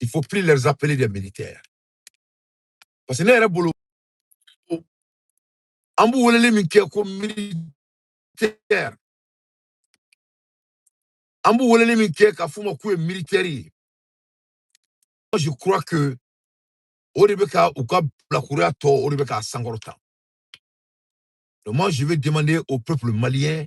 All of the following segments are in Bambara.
il faut plus les appeler des militaires parce que ne yɛrɛ bolo an b'u weleli min kɛ ko militaire an b'u weleli min kɛ k'a f'u ma k'u ye militaire ye moi je crois que o de bɛ ka u ka bilakoroya tɔ o de bɛ k'a sankɔrɔta donc moi je vais demander au peuple malien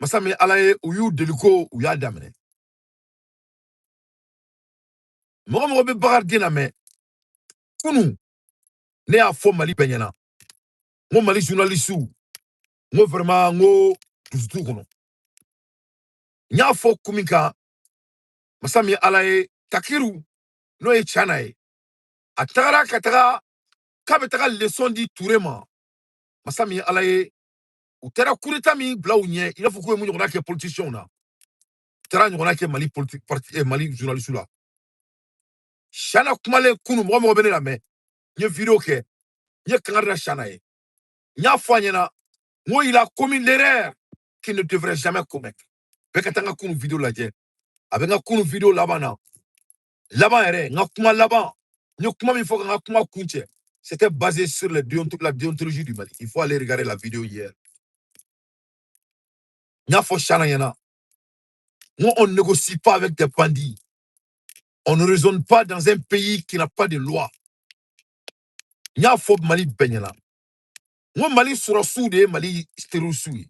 masa min ala ye u y'u deliko u y'a daminɛ mɔgɔ mɔgɔ bɛ bakarijan lamɛn kunun ne y'a fɔ mali bɛɛ ɲɛna n ko mali journalisiw n ko vraiment n ko dusu t'u kɔnɔ n y'a fɔ kun min kan masa min ala ye takiru n'o ye Chana ye a tagara ka taga k'a bɛ taga leçon di ture ma masa min ala ye u taara kureta min bila u ɲɛ i n'a fɔ k'u ye mun ɲɔgɔnna kɛ politisiyɛnw na u taara ɲɔgɔnna kɛ mali politi parti eh, mali journalisiw la Chana kumalen kunu mɔgɔ mɔgɔ bɛ ne lamɛn n ye video kɛ n ye kangari da Chana ye n y'a fɔ a ɲɛna n ko il a commis l'erreur qu'il ne devrait jamais commettre bɛɛ ka taa n ka kunu video lajɛ a bɛ n ka kunu video laban na laban yɛrɛ n ka kuma laban n ye kuma min fɔ ka n ka kuma kuncɛ c'était basé sur la déontologie du Mali il faut aller regarder la vidéo hier n y'a fɔ Chana ɲɛna n ko on ne négocie pas avec des bandits on ne raisonne pas dans un pays qui n'a pas de loi n y'a fɔ Mali bɛɛ ɲɛna n ko Mali sɔrɔdasiw de ye Mali terrorisiw ye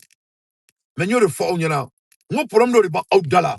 mais n y'o de fɔ aw ɲɛna n ko problème dɔ de b'aw da la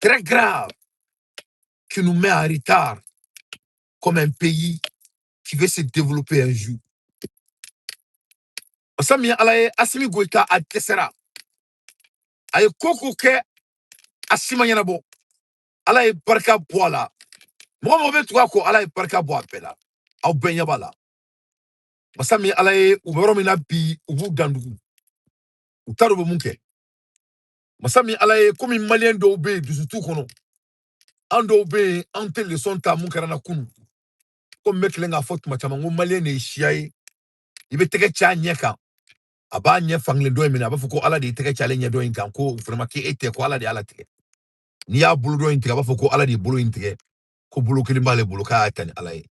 très grave qui nous met en retard comme un pays qui veut se développer un jour. Masa min Ala ye Asimi Goyita a dɛsɛra a ye ko ko kɛ a si ma ɲɛnabɔ Ala ye barika bɔ a la mɔgɔ mɔgɔ bɛ tugu a kɔ Ala ye barika bɔ a bɛɛ la aw bɛɛ ɲɛ b'a la masa min Ala ye u bɛ yɔrɔ min na bi u b'u dandugu u t'a dɔn u bɛ mun kɛ masa min ala ye komi maliyɛn dɔw bɛ yen dusu t'u kɔnɔ an dɔw bɛ yen an tɛ lesɔn ta mun kɛra an na kunu komi n bɛ tilen k'a fɔ tuma caman ko maliyɛn de ye siya ye i bɛ tɛgɛ ci a ɲɛ kan a b'a ɲɛ fankelen dɔ in minɛ a b'a fɔ ko ala de ye tɛgɛ ci ale ɲɛ dɔ in kan ko vraiment k'e tɛ ko ala de y'a latigɛ n'i y'a bolo dɔ in tigɛ a b'a fɔ ko ala de ye bolo in tigɛ ko bolo kelen b'ale bolo k'a y'a ta ni ala ye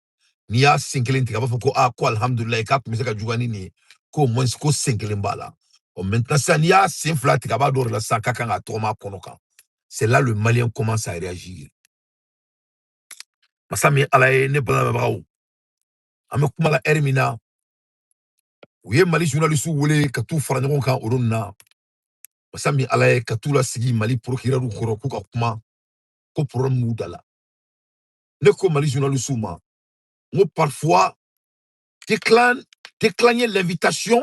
n'i y'a sen kelen tigɛ a b'a fɔ ko a ko alihamudulilayi k'a tun bɛ se ka juguya ni nin ye k'au moins ko sen kelen b'a la ɔ maintenant sisan n'i y'a sen fila tigɛ a b'a dɔn o de la sisan k'a kan ka tɔgɔma a kɔnɔ kan c'est là le malien commence à réagir masa min ala ye ne lamɛnbagaw an bɛ kuma la ɛri min na u ye mali journalisiw wele ka t'u fara ɲɔgɔn kan olu na masa min ala ye ka t'u lasigi mali porokirɛriw kɔrɔ k'u ka kuma ko problème b'u da la ne ko mali journalisiw ma n ko parfois déclin décliner l'invitation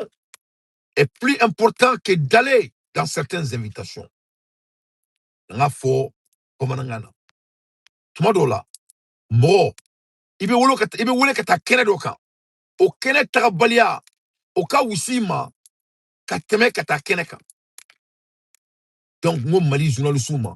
est plus important que d'aller dans certaines invitations n k'a fɔ bamanankan na tuma dɔw la mɔgɔ i bɛ wele ka ta- i bɛ wele ka taa kɛnɛ dɔ kan o kɛnɛ tagabaliya o ka wusa i ma ka tɛmɛ ka taa kɛnɛ kan donc n ko mali journalisiw ma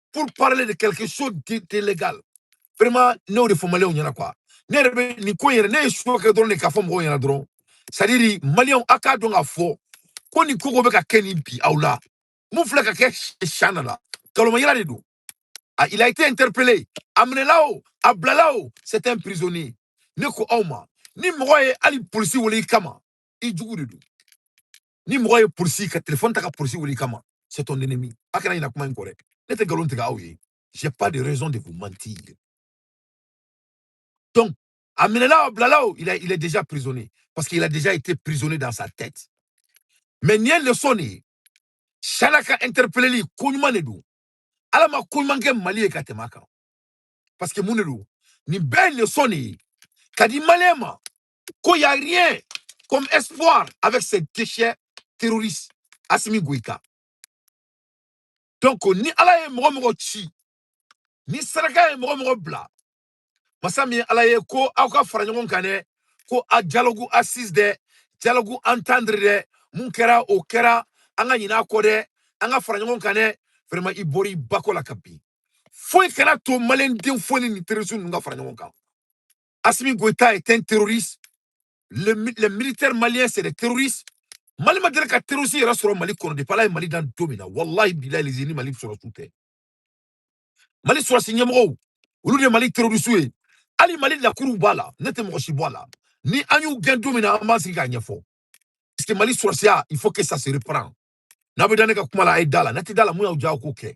pour parler de quelque chose d'illégal vraiment ne y'o de fɔ maliyɛnw ɲɛna quoi ne yɛrɛ bɛ nin ko in yɛrɛ ne ye suwa kɛ dɔrɔn de k'a fɔ mɔgɔw ɲɛna dɔrɔn c'est à dire maliyɛnw a k'a dɔn k'a fɔ ko nin ko bɛ ka kɛ nin bi aw la mun filɛ ka kɛ chahana la nkalonmayira de don ah il a été interpellé a minɛla o a bilala o c'est un prisonnier ne ko aw ma ni mɔgɔ ye hali polisi wele i kama i jugu de don ni mɔgɔ ye polisi ka telefɔni ta ka polisi wele i kama c'est ton ennemi a kana ɲina kuma in kɔ dɛ ne tɛ nkalon tigɛ aw ye j'ai pas de raison de vous mentir donc a minɛna o a bilala o il a il est déjà prisonnier parce qu'il a déjà été prisonnier dans sa tête mais nin ye leçon de ye chahana ka interpelleli ko ɲuman de don ala ma ko ɲuman kɛ mali ye ka tɛmɛ a kan parce que mun de don nin bɛɛ ye leçon de ye ka di maliyɛn ma Ko y a rien comme espoir avec ces déchets terroristes Assimi Goïta. Donc ni Ala ye mɔgɔ mɔgɔ ci, ni saraka ye mɔgɔ mɔgɔ bila, masa min ye Ala ye ko aw ka fara ɲɔgɔn kan dɛ, ko a dialogue assise dɛ, dialogue entendre dɛ, mun kɛra o kɛra, an ka ɲinɛ a kɔ dɛ, an ka fara ɲɔgɔn kan dɛ, vraiment i bɔra i ba kɔ la ka bin. Foyi kan'a to maliyɛnden foyi ni terroristes ninnu ka fara ɲɔgɔn kan. Assimi Goïta est un terroriste. Les, militaires maliens, c'est des terroristes. Mali ma deli ka terroriste yɛrɛ sɔrɔ Mali kɔnɔ depuis Ala ye Mali dan don min na walahi bilahi lazim ni Mali sɔrɔsiw tɛ Mali sɔrɔsi ɲɛmɔgɔw olu de Mali terroriste ye hali Mali lakuruw b'a la ne tɛ mɔgɔ si bɔ a la ni an y'u gɛn don min na an b'an sigi k'a ɲɛfɔ parce que Mali sɔrɔsiya il faut que ça se reprend n'a bɛ da ne ka kuma la a ye da la n'a tɛ da la mun y'aw diya aw k'o kɛ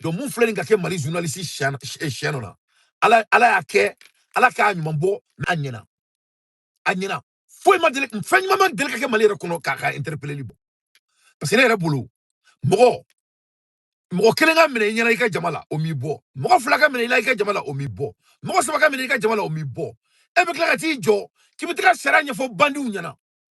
donc mun filɛ nin ka kɛ mali journaliste chahana la ala ala y'a kɛ ala k'a ɲuman bɔ n'a ɲɛna a ɲɛna foyi ma deli fɛn ɲuman ma deli ka kɛ mali yɛrɛ kɔnɔ k'a ka interpelleli bɔ parce que ne yɛrɛ bolo mɔgɔ mɔgɔ kelen ka minɛ i ɲɛna i ka jama la o m'i bɔ mɔgɔ fila ka minɛ i la i ka jama la o m'i bɔ mɔgɔ saba ka minɛ i ka jama la o m'i bɔ e bɛ tila ka t'i jɔ k'i bɛ tila sariya ɲɛfɔ bandiw ɲɛna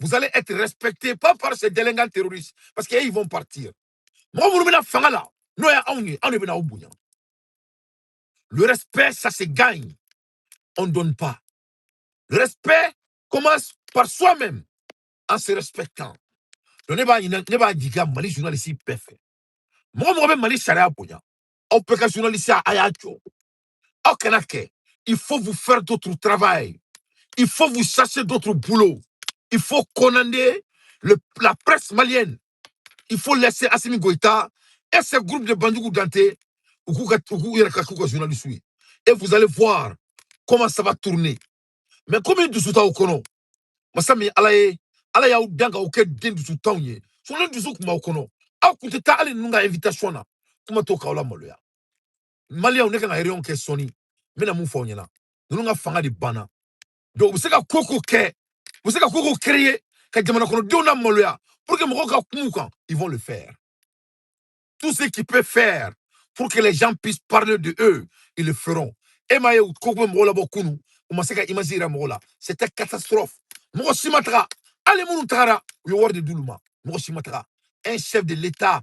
vous allez être respectés pas par ces délinquants terroristes parce qu'ils vont partir mɔgɔ minnu bɛ na fanga la n'o ye anw ye anw de bɛna aw bonya le respect ça se gagne on ne donne pas le respect commence par soi-même en se respectant donc ne b'a ɲininka ne b'a ɲini mali journaliste bɛɛ fɛ mɔgɔ o mɔgɔ bɛ mali sariya bonya aw bɛɛ ka journaliste a y'a jɔ aw kan'a kɛ il faut vous faire d'autres travail il faut vous chercher d'autres boulot il faut condamner le, la presse malienne il faut laisser Assimi Goïta et ce groupe de Bandiougou Danté u k'u ka- u k'u yɛrɛ ka k'u ka journaliste ye. et vous allez voir comment ça va tourner mais comme dusu t'aw kɔnɔ masa min ala ye ala y'aw dan k'aw kɛ den dusuntanw ye sɔni dusu kun b'aw kɔnɔ aw kun tɛ taa hali ninnu ka invitation na kuma t'o k'aw lamaloya maliyaw ne ka ka réunion kɛ sɔni n bɛna mun fɔ aw ɲɛna ninnu ka fanga de banna donc u bɛ se ka ko o ko kɛ u bɛ se ka ko o ko créer ka jamana kɔnɔdenw lamaloya pour que mɔgɔw ka kum'u kan ils vont le faire tout ce qui peut faire pour que les gens puissent parler de eux ils le feront e m'a ye u ko k'u bɛ mɔgɔw labɔ kunu u ma se ka image yira mɔgɔw la c'était catastrophe mɔgɔ si ma taga hali minnu tagara u ye wari de d'olu ma mɔgɔ si ma taga un chef de l'état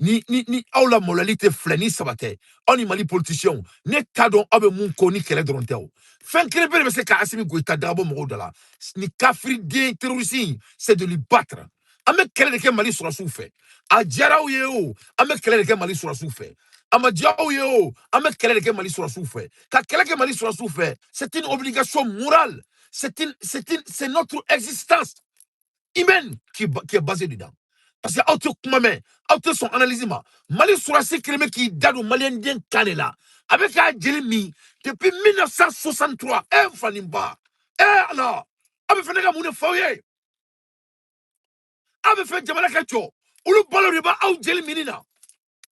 ni ni ni aw lamaloyali tɛ fila ni saba tɛ aw ni mali politisiyɛnw ne t'a dɔn aw bɛ mun kɔ ni kɛlɛ dɔrɔn tɛ o fɛn kelenpe de bɛ se ka asimi goyita tɔgɔ bɔ mɔgɔw da la nin kafiriden terorisi in c'est de lui battre an bɛ kɛlɛ de kɛ mali sɔrɔdasiw fɛ a diyara aw ye o an bɛ kɛlɛ de kɛ mali sɔrɔdasiw fɛ a ma diya aw ye o an bɛ kɛlɛ de kɛ mali sɔrɔdasiw fɛ ka kɛlɛ kɛ mali sɔrɔdasiw fɛ c'est une obligation morale c'est une c'est une c'est notre existence humaine qui est, qui est basée dedans. Parce que aw tɛ kuma mɛn aw tɛ sɔn analyse ma mali sɔrɔdasi kɛlen bɛ k'i da don maliyɛnden kan de la a bɛ k'a jeli min depuis 1963 e n fa ni n ba e ala aw bɛ fɛ ne ka mun de fɔ aw ye aw bɛ fɛ jamana ka jɔ olu balo de b'aw jeli minni na